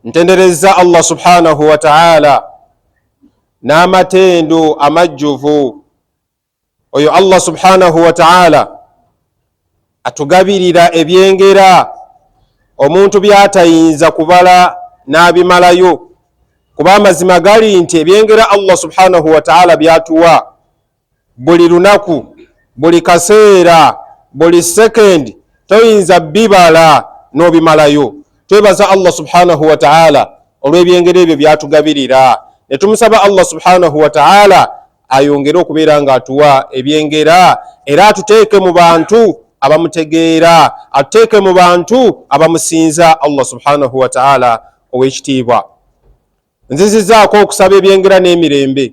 Ntenderezza Allah subhanahu wa ta'ala n'amatendo amajjuvu oyo Allah subhanahu wa ta'ala atugabirira ebyengera omuntu byatayinza kubala n'abimalayo kuba amazima gali nti ebyengera Allah subhanahu wa ta'ala byatuwa buli lunaku buli kaseera buli second toyinza bibala n'obimalayo twebaza allah subhanahu wataala olw'ebyengeri ebyo byatugabirira ne tumusaba allah subhanahu wataala ayongere okubeera nga atuwa ebyengera era atuteeke mu bantu abamutegeera atuteeke mu bantu abamusinza allah subhanahu wataala ow'ekitiibwa nzizizaako okusaba ebyengera n'emirembe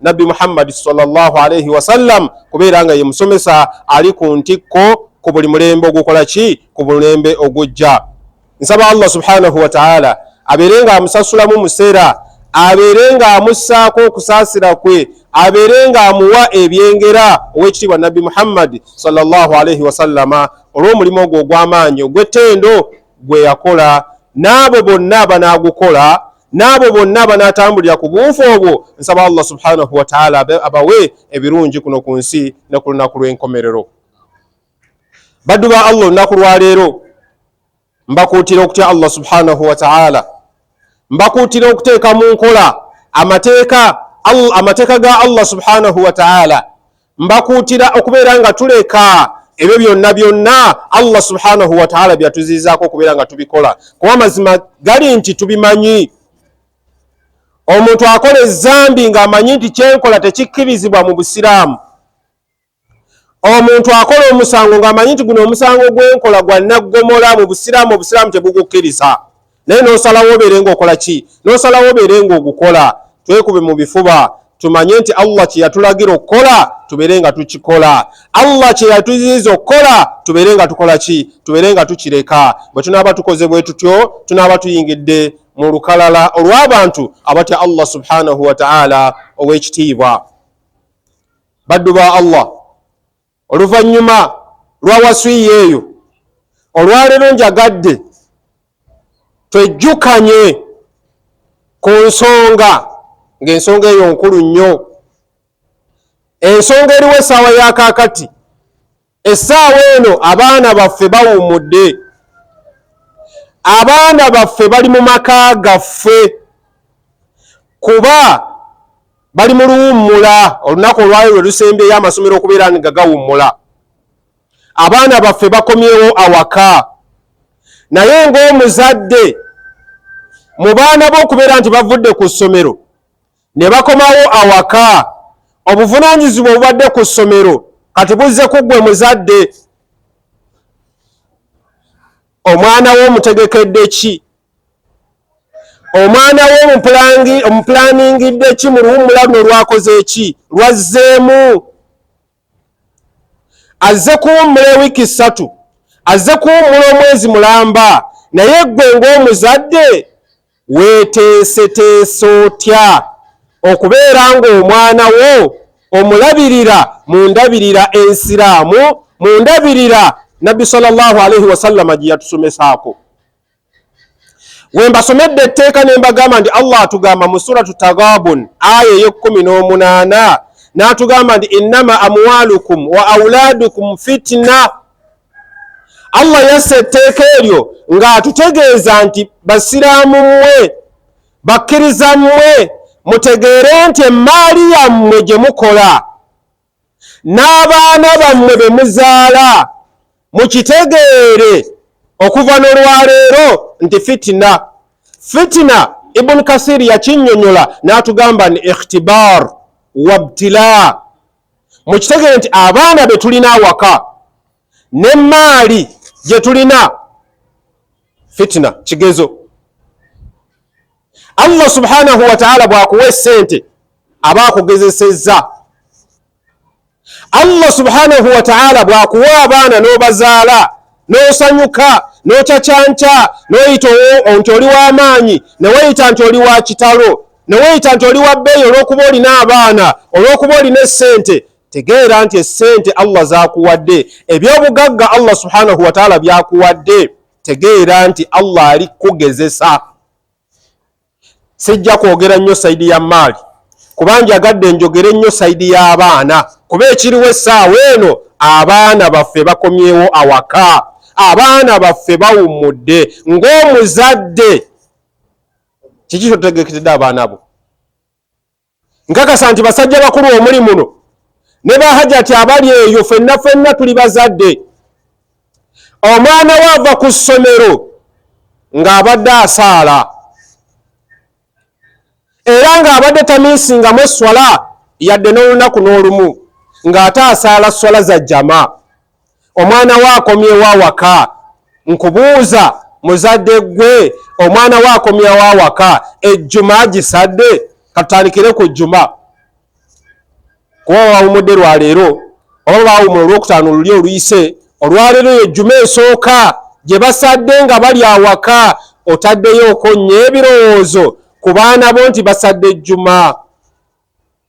nabbi muhammadi salllah alaihi wasallam kubeera nga ye musomesa ali ku ntikko ku buli mulembe ogukola ki ku mulembe ogujja nsaba allah subhanahu wataala abeere nga amusasulamu museera abeere nga amussaako okusaasira kwe abeere nga amuwa ebyengera ow'ekitiibwa nabbi muhammadi salllah alaihi wasallama olw'omulimu ogwo ogw'amaanyi ogw'ettendo gwe yakola n'abo bonna abanaagukola n'abo bonna abanaatambulira ku buufu obwo nsaba allah subhanahu wataala abawe ebirungi kuno ku nsi ne ku lunaku lw'enkomerero baddu ba allah olunaku lwaleero mbakuutira okutya allah subhanahu wataala mbakuutira okuteeka mu nkola amateeka amateeka ga allah subhanahu wataala mbakuutira okubeera nga tuleka ebyo byonna byonna allah subhanahu wataala byatuziizaako okubeera nga tubikola kuba amazima gali nti tubimanyi omuntu akola ezambi ng'amanyi nti kyenkola tekikkirizibwa mu busiraamu omuntu akola omusango ng'amanyi nti guno omusango gwenkola gwa naggomola mu busiraamu obusiraamu tebugukkiriza naye nosalawo obeere nga okola ki nosalawo obeere nga ogukola twekube mu bifuba tumanye nti allah kyeyatulagira okukola tubeere nga tukikola allah kyeyatuziiza okukola tubeere nga tukola ki tubeere nga tukireka bwe tunaaba tukoze bwe tutyo tunaaba tuyingidde mu lukalala olw'abantu abatya allah subhanahu wataala ow'ekitiibwa baddu ba allah Oluvannyuma lwa waswiya eyo, olwaleero njagadde twejjukanye ku nsonga ng'ensonga eyo nkulu nnyo. Ensonga eriwo essaawa ya kaakati, essaawa eno abaana baffe bawummudde, abaana baffe bali mu maka gaffe kuba bali mu luwummula olunaku olwayo lwe lusembyeyo amasomero okubeera nga gawummula abaana baffe bakomyewo awaka naye ng'omuzadde mu baana bo okubeera nti bavudde ku ssomero ne bakomawo awaka obuvunaanyizibwa obubadde ku ssomero kati buzze ku ggwe muzadde omwana wo omutegekedde ki omwana we omupulaaningidde ki mu luwummula luno lwakoze ki lwazzeemu azze kuwummula ewiiki ssatu azze kuwummula omwezi mulamba naye ggwe ng'omuzadde weeteeseteese otya okubeera ng'omwana wo omulabirira mu ndabirira ensiraamu mu ndabirira nabbi salllahu alaihi wasallama gye yatusomesaako wembasomedde etteeka ne mbagamba nti allah atugamba mu suratu tagabun aya ey'ekkumi n'omunaana n'atugamba nti innama amwalukum wa auladukum fitina allah yassa etteeka eryo ng'atutegeeza nti basiraamu mmwe bakkiriza mmwe mutegeere nti emmaali yammwe gye mukola n'abaana bammwe be muzaala mukitegeere okuva n'olwaleero nti fitina fitina ibuni kasiri yakinyonyola n'atugamba ni ikhtibar wabtila mukitegeere nti abaana be tulina awaka n'emmaali gye tulina fitina kigezo Allah subhanahu wataala bwakuwa esente aba akugezesezza. Allah subhanahu wataala bwakuwa abaana n'obazaala n'osanyuka n'ocacanca n'oyita nti oli w'amaanyi neweyita nti oli wa kitalo neweyita nti oli wa bbeeyi olw'okuba olina abaana olw'okuba olina essente tegeera nti essente Allah zaakuwadde eby'obugagga Allah subhanahu wataala byakuwadde tegeera nti Allah ali kukugezesa. sijja kwogera nnyo sayidi ya maali kuba njagadde enjogere ennyo sayidi y'abaana kuba ekiriwo essaawa eno abaana baffe bakomyewo awaka abaana baffe bawummudde ng'omuzadde kiki kyotegekedde abaana bo Nkakasa nti basajja bakulu omuli muno ne ba hajati abali eyo fenna fenna tuli bazadde. Omwana we ava ku ssomero ng'abadde asaala era ng'abadde tamiisingamu esswala yadde n'olunaku n'olumu ng'ate asaala sswala za jama. omwana we akomyewo awaka nkubuuza muzadde gwe omwana we akomyewo awaka ejjuma agisadde katutandikire ku jjuma kuba bawumudde lwaleero oba bawumula olwokutaano luli oluyise olwaleero eyo ejjuma esooka gye basadde nga bali awaka otaddeyo okonnya ebirowoozo ku baana bo nti basadde ejjuma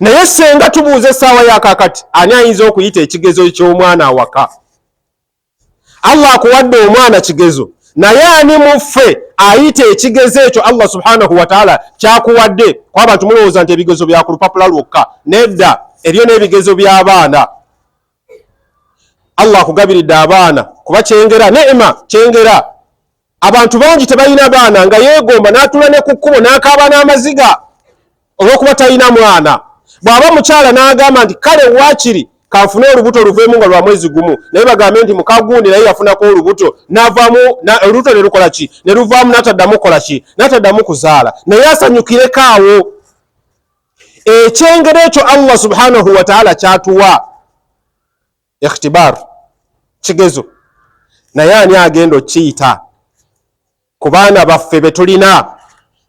naye senga tubuuza essaawa yakakati ani ayinza okuyita ekigezo ky'omwana awaka allah akuwadde omwana kigezo naye ani muffe ayita ekigezo ekyo allah subhanahu wataala kyakuwadde kuba abantu mulowooza nti ebigezo bya ku lupapula lwokka nedda ebyo n'ebigezo by'abaana allah akugabiridde abaana kuba kyengera nema kyengera abantu bangi tebalina baana nga yeegomba n'atula ne ku kkubo n'akaaba n'amaziga olw'okuba talina mwana bw'aba omukyala n'agamba nti kale waakiri kanfune olubuto luveemu nga lwa mwezi gumu naye bagambe nti mukagundi naye yafunako olubuto navaamu olubuto ne lukola ki ne luvaamu n'ataddamu kukola ki n'ataddamu kuzaala naye asanyukireko awo ekyengero ekyo allah subhanahu wataala kyatuwa ikhtibar kigezo naye ani agenda okiyita ku baana baffe betulina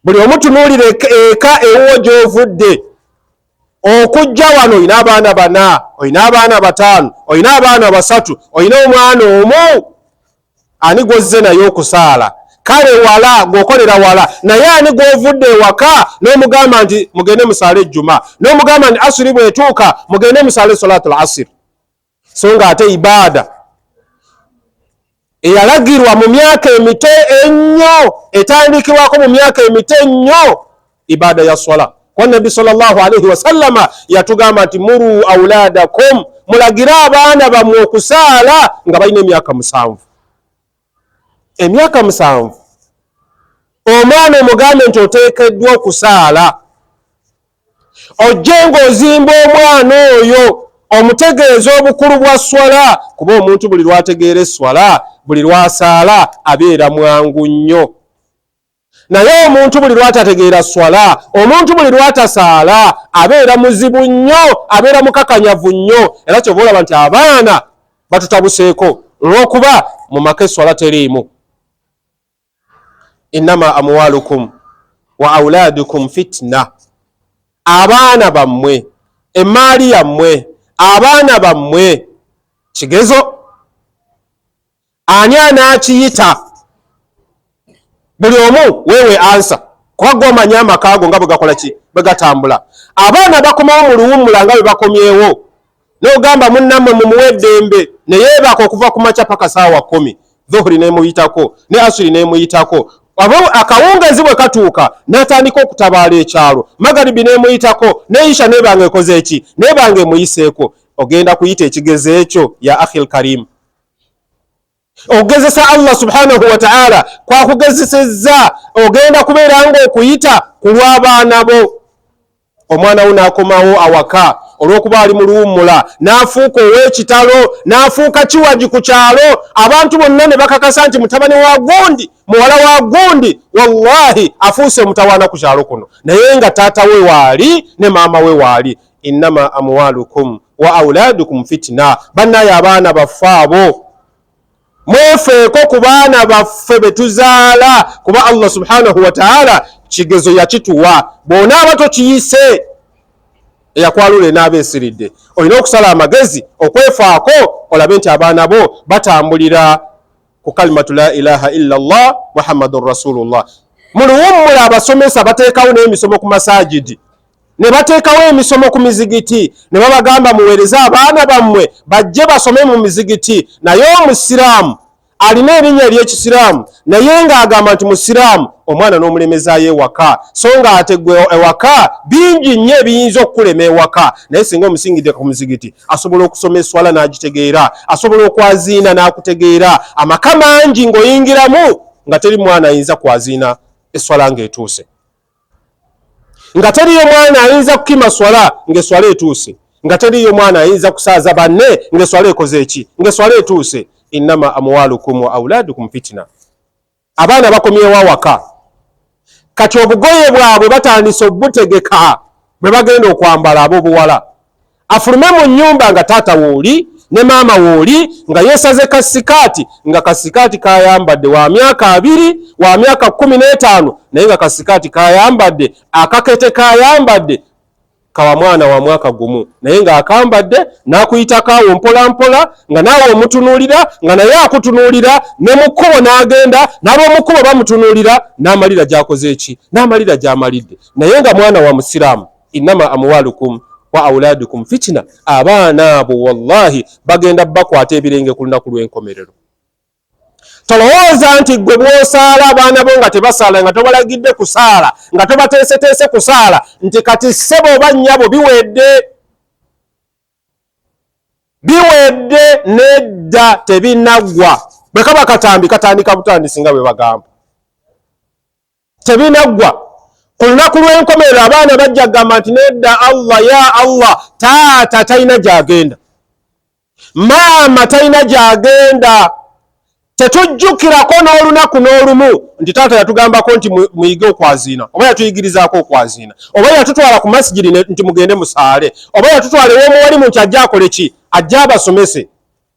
buli omu tunuulira eka ewuwo gyovudde okujja wano olina abaana bana olina abaana bataano olina abaana basatu olina omwana omu ani gwozze naye okusaala kale wala ng'okolera wala naye ani gw'ovudde ewaka n'omugamba nti mugende musaale ejjuma n'omugamba nti asiri bwetuuka mugende musaale solatul asiri so nga ate ibaada eyalagirwa mu myaka emito ennyo etandikibwako mu myaka emito ennyo ibada ya swala kwa nabbi salllahu alaihi wasallama yatugamba nti muru auladakum mulagire abaana bamwe okusaala nga balina emyaka musanvu emyaka musanvu omwana omugambe nti oteekeddwa okusaala ojje ng'ozimba omwana oyo omutegeeza obukulu bwa swala kuba omuntu buli lwategeera eswala buli lwasaala abeera mwangu nnyo naye omuntu buli lwatategeera swala omuntu buli lwatasaala abeera muzibu nnyo abeera mukakanyavu nnyo era kyova olaba nti abaana batutabuseeko olwokuba mu maka eswala teriimu innama amwalukum wa auladukum fitna abaana bammwe emmaali yammwe abaana bammwe kigezo ani anakiyita buli omu wewe ansa kuba gomanye amaka ago nga bwegakola ki bwegatambula abaana bakomawo mu luwummula nga bwebakomyewo nogamba munnamwe mumuwa eddembe neyebaaka okuva ku makya paka saawa kumi dhuhuri nemuyitako ne asuri nemuyitako akawungezi bwe katuuka natandika okutabaala ekyalo magaribi nemuyitako neisha nebanga ekoze eki nebanga emuyiseeko ogenda kuyita ekigezo ekyo ya ahil karimu okugezesa allah subhanahu wataala kwakugezesezza ogenda kubeera nga okuyita ku lw'abaana bo omwana wo n'akomawo awaka olw'okuba ali mu luwummula n'afuuka ow'ekitalo n'afuuka kiwagi ku kyalo abantu bonna ne bakakasa nti mutabani wa gundi muwala wa gundi wallahi afuuse omutawaana ku kyalo kuno naye nga taata we waali ne maama we waali innama amwalukum wa auladukum fitina bannaye abaana baffe abo mwefeeko ku baana baffe betuzaala kuba allah subhanahu wataala kigezo yakituwa bona aba tokiyise eyakwalula enaaba esiridde olina okusala amagezi okwefaako olabe nti abaana bo batambulira ku kalimatu la ilaha illa llah muhammadun rasulullah muluwummula abasomesa bateekawo n'emisomo ku masajidi ne bateekawo emisomo ku mizigiti ne babagamba muweereze abaana bammwe bajje basome mu mizigiti naye omusiraamu alina erinnya ery'ekisiraamu naye ng'agamba nti musiraamu omwana n'omulemezaayo ewaka so nga ate gwe ewaka bingi nnyo ebiyinza okukulema ewaka naye singa omusingidde ku muzigiti asobola okusoma eswala n'agitegeera asobola okwaziina n'akutegeera amaka mangi ng'oyingiramu nga teri mwana ayinza kwaziina eswala ng'etuuse nga teriyo mwana ayinza kukima swala ng'eswala etuuse nga teriyo mwana ayinza kusaaza banne ng'eswala ekoze eki ng'eswala etuuse innama amwalukum wa auladukum fitina abaana bakomyewo awaka kati obugoye bwabwe batandise obutegeka bwe bagenda okwambala abobuwala afulume mu nyumba nga taata wooli ne maama wooli nga yesaze kasikaati nga kasikaati kayambadde wa myaka abiri wa myaka kumi n'etaano naye nga kasikaati kayambadde akakete kayambadde kawa mwana wa mwaka gumu naye ng'akambadde n'akuyitako awo mpolampola nga naawe omutunuulira nga naye akutunuulira ne mu kkubo n'agenda n'ab'omu kkubo bamutunuulira n'amalira gy'akoze eki n'amalira gy'amalidde naye nga mwana wa musiraamu innama amuwalukum wa auladukum fitina abaana abo wallahi bagenda bakwata ebirenge ku lunaku lw'enkomerero tolowooza nti gwe bwosaala abaana bo nga tebasaala nga tobalagidde kusaala nga tobateeseteese kusaala nti kati ssebo oba nnyabo biwedde biwedde nedda tebinaggwa bwe kaba katambi katandika butandisi nga bwe bagamba tebinaggwa ku lunaku lw'enkomerero abaana bajja kugamba nti nedda allah ya allah taata talina gyagenda maama talina gyagenda tetujjukirako n'olunaku n'olumu nti taata yatugambako nti muyige okwaziina oba yatuyigirizaako okwaziina oba yatutwala ku masigiri nti mugende musaale oba yatutwala ew'omuwalimu nti ajja akole ki ajja abasomese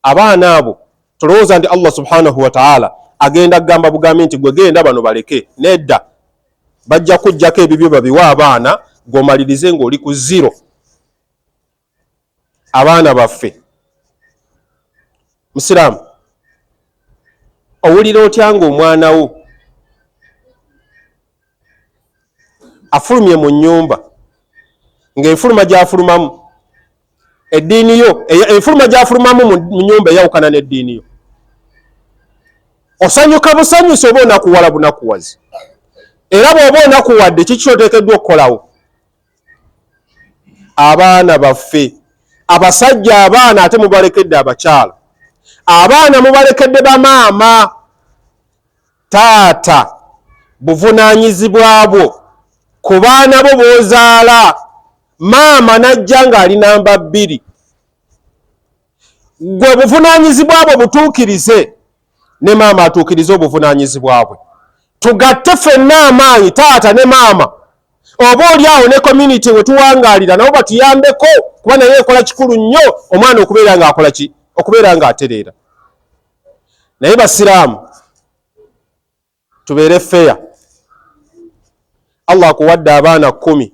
abaana abo tolowooza nti allah subhanahu wataala agenda kugamba bugambi nti gwe genda bano baleke nedda bajja kujjako ebibyo babiwe abaana gwomalirize ngaoli ku ziro abaana baffe musiraamu owulira otya nga omwana wo afulumye mu nyumba ng'enfuluma gy'afulumamu eddiini yo enfuluma gy'afulumamu mu nyumba eyawukana n'eddiini yo osanyuka busanyusi oba onakuwala bunakuwazi era bw'oba onakuwadde kiki kyoteekeddwa okukolawo abaana baffe abasajja abaana ate mubalekedde abakyala abaana mubalekedde bamaama taata buvunanyizibwa bwo ku baana bo bozaala maama najja ng'ali namba bbiri gwe buvunanyizibwa bwo butuukirize ne maama atuukirize obuvunanyizibwa bwe tugatte fenna amaanyi taata ne maama oba oli awo ne community wetuwangaalira nabo batuyambeko kuba naye ekola kikulu nnyo omwana okubeera ng'akola ki okubeera ng'atereera naye basiraamu tubeere feya allah akuwadde abaana kumi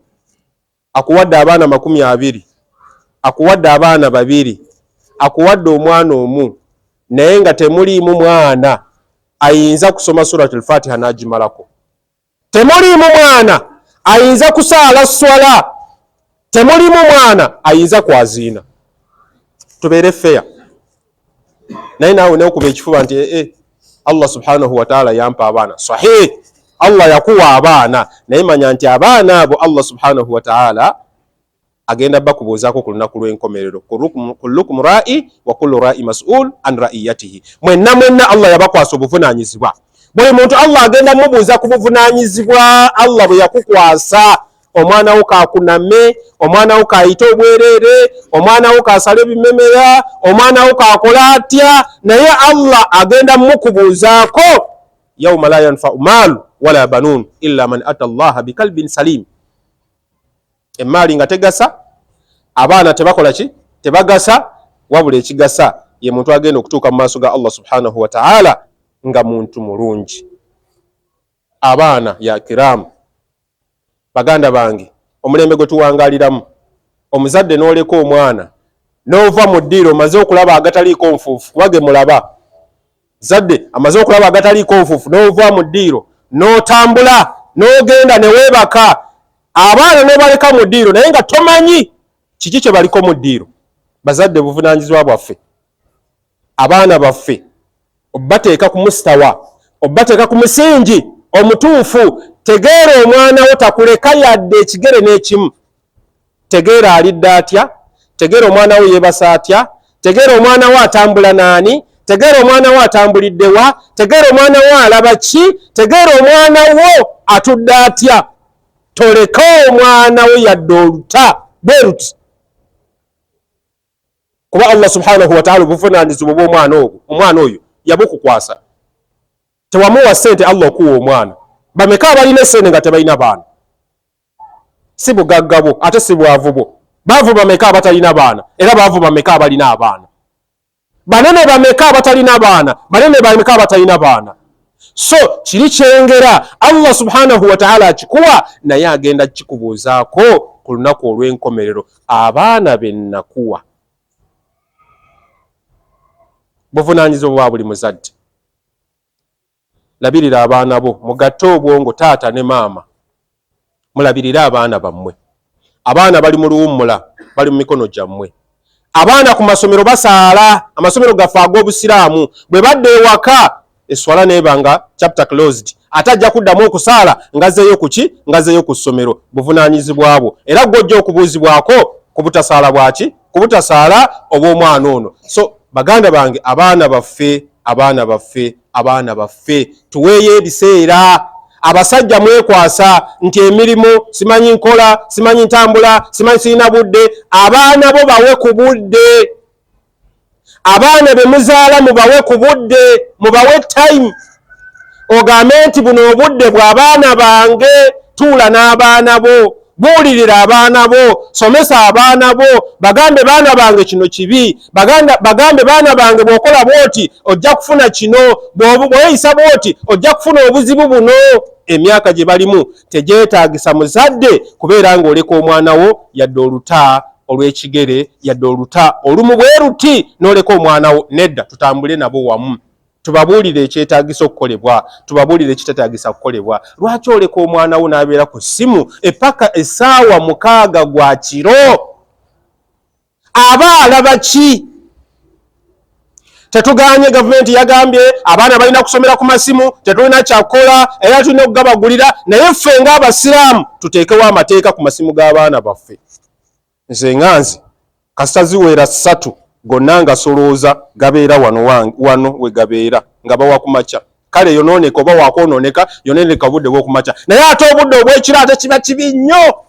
akuwadde abaana makumi abiri akuwadde abaana babiri akuwadde omwana omu naye nga temuliimu mwana ayinza kusoma surat lfatiha n'agimalako temuliimu mwana ayinza kusaala swala temuliimu mwana ayinza kwaziina tubeere feya naye naawe neokuba ekifuba nti ee eh, eh, allah subhanahu wataala yampa abaana sahih allah yakuwa abaana naye manya nti abaana abo allah subhanahu wataala agenda bakubuuzaako ku lunaku lw'enkomerero kullukum ra'i wa kullu ra'i mas'ul an ra'iyatihi mwenna mwenna allah yabakwasa obuvunaanyizibwa buli muntu allah agenda mubuuza ku buvunaanyizibwa allah bwe yakukwasa omwana wo kakuname omwana wo kayite obwereere omwana wo kasala ebimemera omwana wo kakola atya naye allah agenda mukubuuzaako yauma la yanfau maalu wala banuun illa man ata allaha bikalbin salimu emmaali nga tegasa abaana tebakola ki tebagasa wabula ekigasa ye muntu agenda okutuuka mu maaso ga allah subhanahu wataala nga muntu mulungi abaana ya kiraamu baganda bange omulembe gwe tuwangaliramu omuzadde n'oleka omwana n'ova mu ddiiro omaze okulaba agataliiko nfuufu kuba ge mulaba Zadde amaze okulaba agataliiko obufufu n'ova mu ddiiro n'otambula n'ogenda ne weebaka abaana n'obaleka mu ddiiro naye nga tomanyi kiki kye baliko mu ddiiro. Bazadde buvunaanyizibwa bwaffe, abaana baffe obateeka ku musitawa, obateeka ku musingi omutuufu. Tegeera omwana wo takuleka yadde ekigere n'ekimu. tegeera alidde atya tegeera omwana wo yeebasa atya tegeera omwana wo atambula naani tegeera omwana wo atambulidde wa tegeera omwana wo alaba ki tegeera omwana wo atudde atya toleka omwana wo yadde oluta bwe luti kuba allah subhanahu wataala obuvunaanyizibwa bwomwana obwo omwana oyo yabukukwasa tewamuwa sente allah okuwa omwana bameka abalina esente nga tebalina baana si bugagga bwo ate si bwavu bwo baavu bameka abatalina baana era baavu bameka abalina abaana banene bameka abatalina baana banene bameka abatalina baana so kiri kyengera allah subhanahu wataala akikuwa naye agenda kikubuuzaako ku lunaku olw'enkomerero abaana benakuwa buvunanyizibwa bwa buli muzadde Labirira abaana bo, mugatte obwongo taata ne maama mulabirire abaana bammwe. Abaana bali mu luwummula, bali mu mikono gyammwe. Abaana ku masomero basaala, amasomero gaffe ag'Obusiraamu. Bwe badda ewaka, esswala n'eba nga chapter closed. Ate ajja kuddamu okusaala ng'azzeeyo ku ki? Ng'azzeeyo ku ssomero. Buvunaanyizibwa bwo era ggwe ojja okubuuzibwako ku butasaala bwa ki? kubutasaala obw'omwana ono so baganda bange abaana baffe abaana baffe abaana baffe tuweeyo ebiseera abasajja mwekwasa nti emirimu simanyi nkola simanyi ntambula simanyi sirina budde abaana bo bawe ku budde abaana bemuzaala mubawe ku budde mubawe time ogambe nti buno obudde bwabaana bange tuula n'abaana bo buulirira abaana bo somesa abaana bo bagambe baana bange kino kibi bagambe baana bange bwokola bwoti ojja kufuna kino bweyisa bwoti ojja kufuna obuzibu buno emyaka gye balimu tegyetaagisa muzadde kubeera ng'oleka omwana wo yadde oluta olw'ekigere yadde oluta olumu bwe luti n'oleka omwana wo nedda tutambule nabo wamu tubabuulire ekyetaagisa okukolebwa tubabuulire ekitetaagisa kukolebwa lwaki oleka omwana wo n'abeera ku ssimu epaka essaawa mukaaga gwa kiro aba alaba ki tetuganye gavumenti yagambye abaana balina kusomera ku masimu tetulina kyakukola era tulina okugabagulira naye ffe ngaabasiraamu tuteekewo amateeka ku masimu g'abaana baffe nze nga nze kasita ziweera ssatu gonna ngasolooza gabeera wano wano we gabeera nga bawa ku makya kale yonooneka oba wakwonooneka yonooneka obudde bwokumakya naye ate obudde obwekiro ate kiba kibi nnyo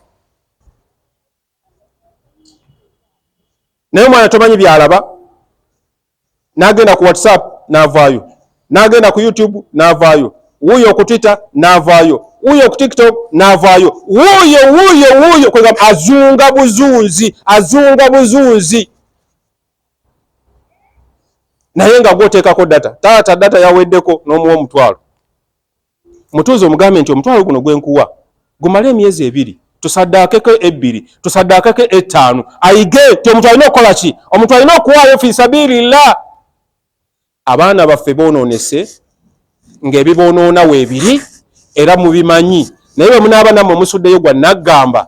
naye omwana tomanyi byalaba nagenda ku whatsapp navaayo nagenda ku youtube navaayo wuuyo ku twitter navaayo wuuyo ku tiktok navaayo wuuyo wuuyo wuuyo kwegamba azunga buzunzi azunga buzunzi naye nga gwoteekako data taata data yaweddeko n'omuwa omutwalo mutuuze omugambe nti omutwalo guno gwenkuwa gumale emyezi ebiri tusaddaakeko ebbiri tusaddaakeko ettaano ayige nti omuntu alina okukola ki omuntu alina okuwaayo fi sabiirillah abaana baffe boonoonese ng'ebiboonoona weebiri era mubimanyi naye bwe munaaba nammwe musuddeyo gwa naggamba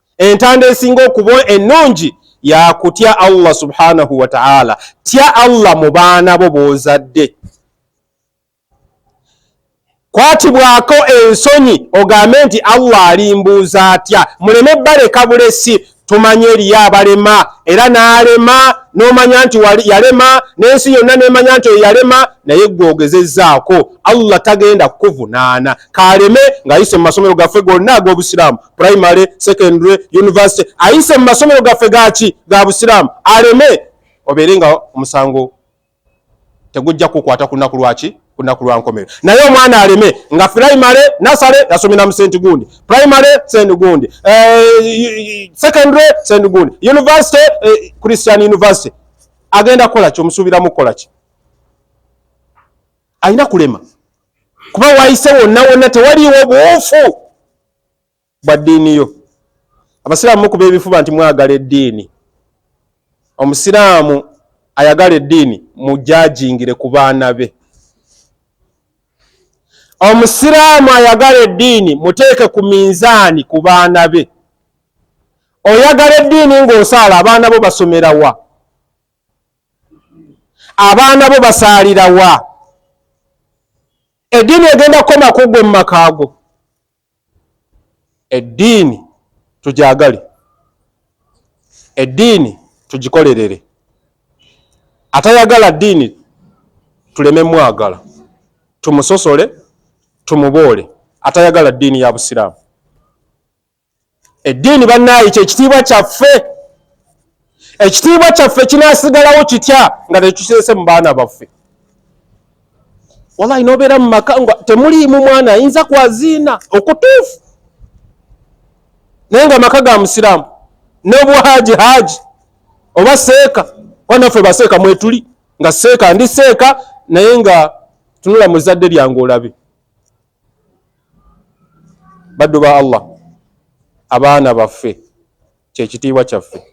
entanda esinga okuba ennungi yakutya allah subhanahu wataala tya allah mu baana bo bozadde kwatibwako ensonyi ogambe nti allah alimbuuza atya muleme baleka bulesi tumanye eriyo abalema era n'alema n'omanya nti yalema n'ensi yonna nemanya nti oyo yalema naye gwe ogezezaako allah tagenda kukuvunaana kaaleme ng'ayise mu masomero gaffe gonna ag'obusiraamu primary secondary university ayise mu masomero gaffe gaki ga busiraamu aleme obeere nga omusango tegujja kukwata ku lunaku lwaki ku lunaku lwa nkomero naye omwana aleme nga primary nasale yasomera mu senti gundi primary senti gundi eh, secondary senti gundi university eh, christian university agenda kukola ki omusuubiramu kukola ki alina kulema kuba wayise wonna wonna tewaliwo buufu bwa ddiini yo. Abasiraamu mukuba ebifuba nti mwagala eddiini. Omusiraamu ayagala eddiini mujajingire ku baana be. Omusiraamu ayagala eddiini muteeke ku minzaani ku baana be. Oyagala eddiini ng'osaala abaana bo basomera wa? Abaana bo basaalira wa? Eddiini egenda kukoma ku ggwe mu makaago. Eddiini tugyagale, eddiini tugikolerere. Atayagala ddiini tuleme mwagala, tumusosole, tumuboole. Atayagala ddiini ya Busiraamu. Eddiini bannaayi kye kitiibwa kyaffe. Ekitiibwa kyaffe kinaasigalawo kitya nga tekiseese mu baana baffe? Walayi n'obeera mu maka nga temuliimu mwana ayinza kwaziina okutuufu, naye nga maka ga Musiraamu n'obuhaaji haaji oba seeka kuba naffe baseeka mwetuli nga seeka ndi seeka naye nga tunula mu zzadde lyange olabe. Baddu ba Allah, abaana baffe kye kitiibwa kyaffe.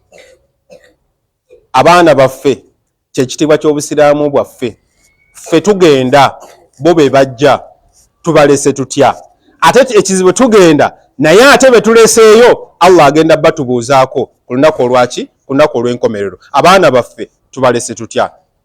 Abaana baffe kye kitiibwa ky'Obusiraamu bwaffe. Ffe tugenda, bo be bajja, tubalese tutya? Ate ekizibu tugenda naye ate be tuleseeyo Allah agenda batubuuzaako ku lunaku olwaki? Ku lunaku olw'enkomerero. Abaana baffe tubalese tutya?